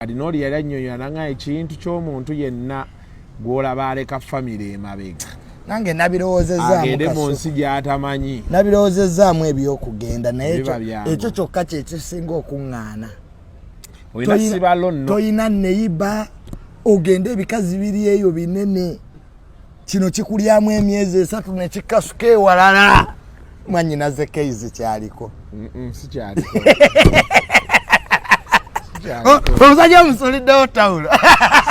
Kadinooli yali annyonnyola nanga ekintu ky'omuntu yenna gw'olaba aleka famire emabega nange nabirowozezaagende mu nsi gyatamanyi nabirowozezzaamu ebyokugenda naye ekyo kyokka kyekisinga okuŋŋaana toyina neyiba ogende ebikazi biri eyo binene kino kikulyamu emyezi esatu nekikasuka ewalala mwanyinaze keizi kyaliko omusajja omusuliddewo tawulo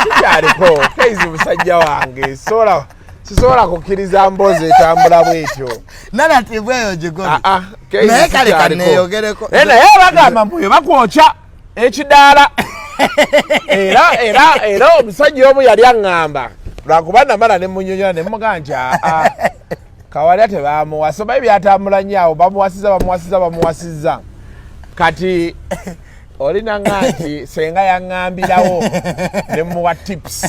sikyaliko keizi musajja wange sola sisobola kukkiriza mboozi etambula bwetyo nanatibweyo gigobinaye ah, ah, kale kaneyogereko naye bagamba mbuyo bakwokya ekidaala era era era omusajja omu yali aŋŋamba lwakuba namala ne munyonyola ne mugamba nti aa ah, ah, kawalya tebamuwasa oba ebyatambula nnyo awo bamuwasiza bamuwasiza bamuwasiza kati olina nga nti senga yaŋŋambirawo ne muwa tips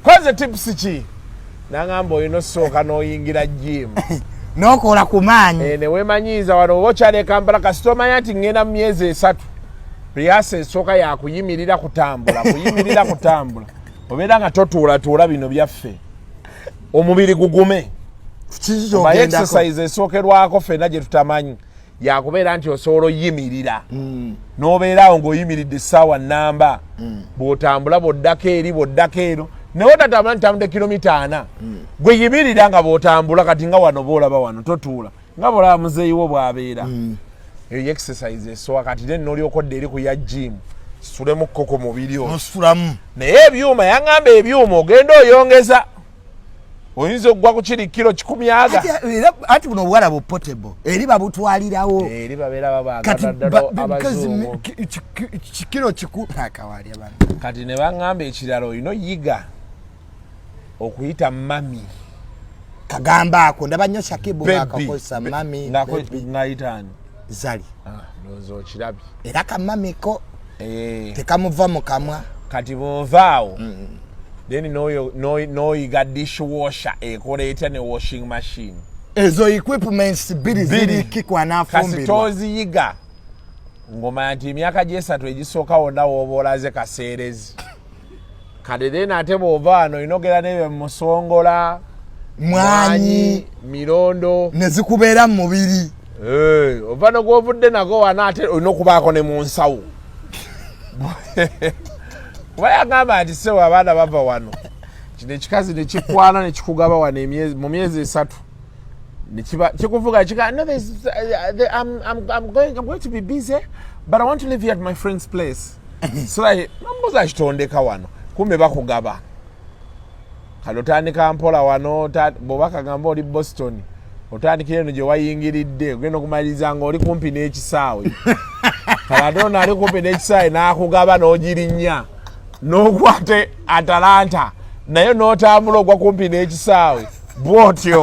koze tips ki nangamba olina osooka noyingira jimu nokola ku maanyi eh, newemanyiiza wano oba okyale kampala kasita omanya nti ngenda mu myezi esatu priasa esooka yakuyimirira kutambula kuyimirira kutambula obeera nga totuulatuula bino byaffe omubiri gugume exercise esookerwako fena gyetutamanyi yakubeera nti osobola oyimirira mm. nobeeraawo ngaoyimiridde essaawa namba mm. bwotambula bwoddako eri bwoddako eno naye otatambula nitambudde kilomita ana mm. gweyimirira nga bwotambula kati nga wano boolaba wano totuula nga bolaba muzeeyiwo bwabeera mm. eyo y exercise esowa kati then nolyokodde eri ku ya jimu situlemukko ku mubiri ositulamu naye ebyuma yaŋamba ebyuma ogenda oyongeza oyinza okugwa ku kiri kiro kikumyaga anti buno obuwala bu potable eri babutwalirawo eri babeera babagaaddaddaabazukiro kikuakawali abantu kati ne baŋŋamba ekirala olina oyiga okuyita mami kagamba ako ndaba nnyo shakibu ngakakozesa mami ngayitaani zali ah, ndowooza okirabye era kamamiko eh. tekamuva mu kamwa kati bovaawo mm. then noyiga dish washer ekola etya ne washing machine ezo equipments biri ziriki kwanafumbirwakasitoziyiga ngomanya nti emyaka gyesatu egisooka wonna woba olaze kaseerezi kati then ate bwova wano olina ogera nebyo musongola mwanyi mirondo nezikubeera mu mubiri eh, ova nogwovudde nago wana ate olina okubaako ne mu nsawo kuba yagamba nti sewo abaana bava wano kino ekikazi nekikwana nekikugaba wano mu myezi esatu kikuvuga kigaagoing to be busy but i want to live here at my friend's place sirayi nombuza akitondeka wano kumbe bakugaba kale otandika mpola wano bwoba kagamba oli boston otandikira eno gye wayingiridde ogenda okumaliriza nga oli kumpi n'ekisaawe kale ate ono ali kumpi n'ekisaawe n'akugaba n'ogirinnya n'okwate atalanta naye n'otambula ogwa kumpi n'ekisaawe bwotyo